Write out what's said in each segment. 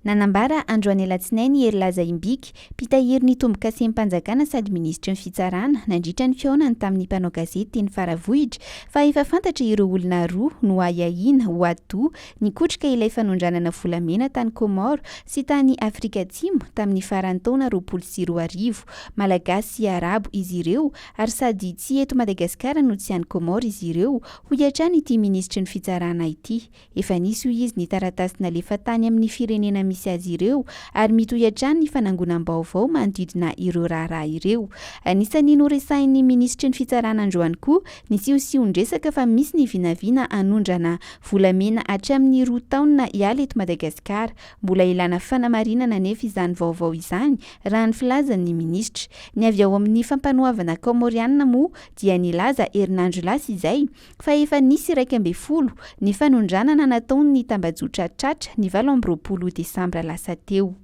Nanambara androany alatsinainy i Herilaza Imbiky, mpitahiry ny tombokasen'mpanjakana sady minisitry ny fitsarana, nandritra ny fihaonany tamin'ny mpanao gazety teny Faravohitra, fa efa fantatra ireo olona roa noahiahiana ho atidoha nikotrika ilay fanondranana volamena tany Comores sy tany Afrika Atsimo tamin'ny faran'ny taona roapolo sy roa arivo. Malagasy sy Arabo izy ireo ary sady tsy eto Madagasikara no tsy any Comores izy ireo, hoy hatrany ity minisitry ny fitsarana ity. Efa nisy hoy izy ny taratasy nalefa tany amin'ny firenena misy azy ireo ary mitohy hatrany ny fanangonam-baovao manodidina ireo raharaha ireo. Anisan'ny noresahin'ny minisitry ny Fitsarana androany koa ny siosion-dresaka fa misy ny vinavina hanondrana volamena hatramin'ny roa taonina hiala eto Madagasikara. Mbola ilana fanamarinana anefa izany vaovao izany raha ny filazan'ny minisitra. Ny avy ao amin'ny Fampanoavana Kaomorianina moa dia nilaza herinandro lasa izay fa efa nisy iraika ambin'ny folo ny fanondranana nataon'ny tambajotra tratra ny valo amby roapolo desambra lasa teo.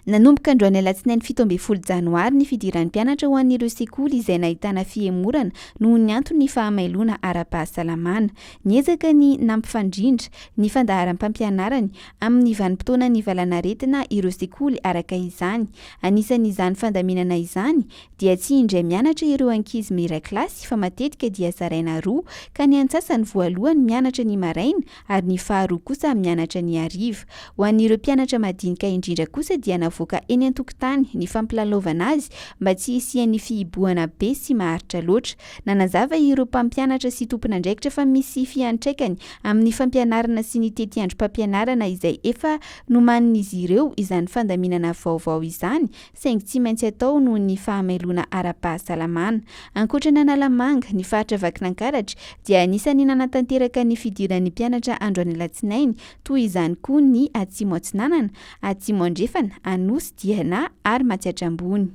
Nanomboka androany alatsinainy fito ambin'ny folo janoary ny fidiran'ny mpianatra ho an'ireo sekoly izay nahitana fihemorana noho ny anton'ny fahamailoana ara-pahasalamana. Niezaka ny nampifandrindra ny fandaharam-pampianarany amin'ny vanim-potoanan'ny valanaretina ireo sekoly araka izany. Anisan'izany fandaminana izany dia tsy indray mianatra ireo ankizy miray kilasy fa matetika dia zaraina roa ka ny antsasany voalohany mianatra ny maraina ary ny faharoa kosa mianatra ny hariva. Ho an'ireo mpianatra madinika indrindra kosa dia navoaka eny an-tokotany ny fampilalaovana azy mba tsy hisian'ny fihibohana be sy maharitra loatra. Nanazava ireo mpampianatra sy tompon'andraikitra fa misy fiantraikany amin'ny fampianarana sy ny tetiandrom-pampianarana izay efa nomanin'izy ireo izany fandaminana vaovao izany saingy tsy maintsy atao noho ny fahamailoana ara-pahasalamana. Ankoatra an'Analamanga, ny faritra Vakinankaratra dia anisan'ny nanatanteraka ny fidiran'ny mpianatra andro any Alatsinainy, toy izany koa ny Atsimo Atsinanana, Atsimo Andrefana, Anosy, Diana ary Matsiatra Ambony.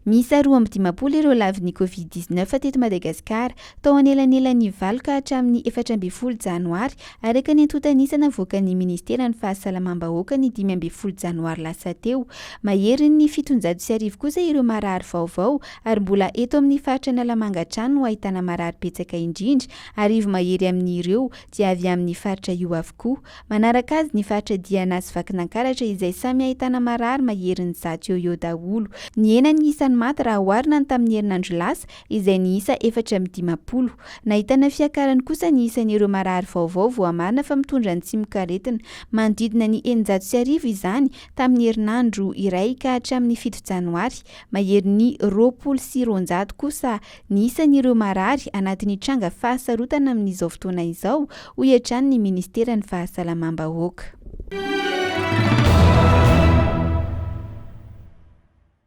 Miisa roa amby dimampolo ireo lavin'ny Covid dix neuf teto Madagasikara, tao anelanelan'ny valo ka hatramin'ny efatra ambin'ny folo janoary, araka ny antontan'isa navoakan'ny Ministeran'ny Fahasalamam-bahoaka ny dimy ambin'ny folo janoary lasa teo. Maherin'ny fitonjato sy arivo kosa ireo marary vaovao ary mbola eto amin'ny faritra Analamanga hatrany no ahitana marary betsaka indrindra, arivo mahery amin'ireo dia avy amin'ny faritra io avokoa. Manaraka azy ny faritra Diana sy Vakinankaratra izay samy ahitana marary maherin'ny zato eo eo daholo. Nihena ny isan'ny maty raha oharina ny tamin'ny herinandro lasa izay niisa efatra amby dimampolo. Nahitana fiakarany kosa ny isan'ireo marary vaovao voamarina fa mitondra ny tsimokaretina. Manodidina ny eninjato sy arivo izany tamin'ny herinandro iray ka hatramin'ny fito janoary, maherin'ny roapolo sy roanjato kosa Ny isan'ireo marary anatin'ny tranga fahasarotana amin'izao fotoana izao, hoy hatrany ny Ministeran'ny Fahasalamam-bahoaka.